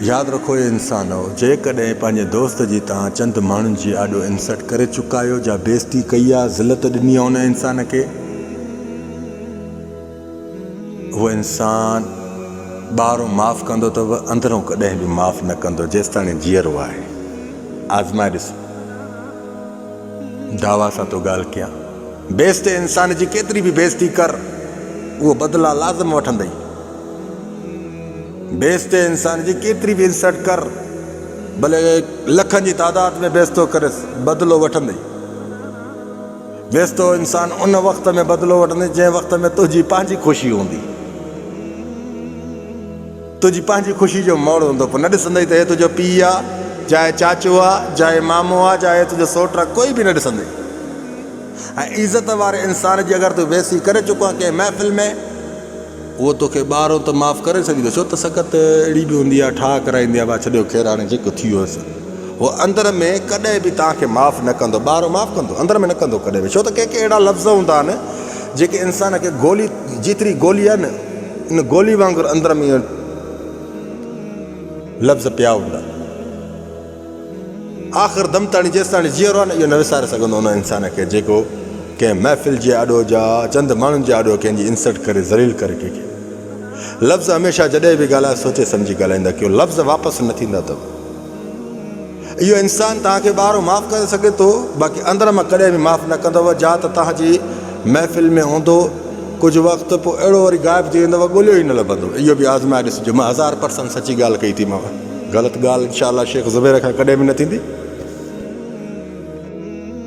ياد رکو اي انسانؤ! جيڪڏهن پنهنجي دوست جي توهان چند ماڻهن جي آڏو انسلٽ ڪري چڪا آهيو جا بيعزتي ڪئي آ، ذلت ڏني آ ان انسان کي، اهو انسان ٻاهرون معاف ڪندو ته به اندرون ڪڏهن به معاف نه ڪندو جيستاڻي جيئرو آهي. آزمائي ڏس. دعويٰ سان ٿو ڳالهه ڪيان. بيعزتي انسان جي ڪيتري به بيعزتي ڪر اهو بدلا لازم وٺندئي. بيستي انسان جي ڪيتري به انسلٽ ڪر ڀلي لکن جي تعداد ۾ بيستو ڪريس بدلو وٺندي. بيستو انسان ان وقت ۾ بدلو وٺندي جنهن وقت ۾ تنهنجي پنهنجي خوشي هوندي. تنهنجي پنهنجي خوشي جو موڙ هوندو پوء نه ڏسندئي ته هي تنهنجو پيء آ جا هي چاچو آ جا هي مامو آ جا هي تنهنجو سوٽ آ ڪوئي به نه ڏسندئي. ۽ عزت واري انسان جي اگر تون بيستي ڪري چڪو آ ڪنهن محفل ۾. اهو توکي ٻار هو ته معاف ڪري سگهيندو ڇو ته سڪت اهڙي به هوندي آهي ٺاهه ڪرائيندي آهي ڀا ڇڏيو خير هاڻي جيڪو ٿي ويو سو هو اندر ۾ ڪڏهن به توهان کي معاف نه ڪندو ٻار هو معاف ڪندو اندر ۾ نه ڪندو ڪڏهن به ڇو ته ڪي ڪي اهڙا لفظ هوندا آهن جيڪي انسان کي گولي جيتري گولي آهي نه ان گولي وانگر اندر ۾ لفظ پيا هوندا آخر دم تاڻي جيستاڻي جيئرو آهي نه اهو نه وساري سگهندو ان انسان کي جيڪو ڪنهن محفل جي آڏو جا چند ماڻهن جي آڏو ڪنهن جي انسلٽ ڪري ذليل ڪري ڪنهن کي لفظ هميشه جڏهن به ڳالهايو سوچي سمجهي ڳالهائيندا ڪيو لفظ واپس نه ٿيندا اٿو اهو انسان توهان کي ٻاهرو معاف ڪري سگهي ٿو باقي اندر مان ڪڏهن به معاف نه ڪندو جا ته توهان جي محفل ۾ هوندو ڪجهه وقت پوء اهڙو وري غائب ٿي ويندو ڳوليو ئي نه لڀندو اهو به آزمائي ڏسجو مان هزار پرسنٽ سچي ڳالهه ڪئي ٿي ماو. غلط ڳالهه انشاء الله شيخ زبير کان ڪڏهن به نه ٿيندي.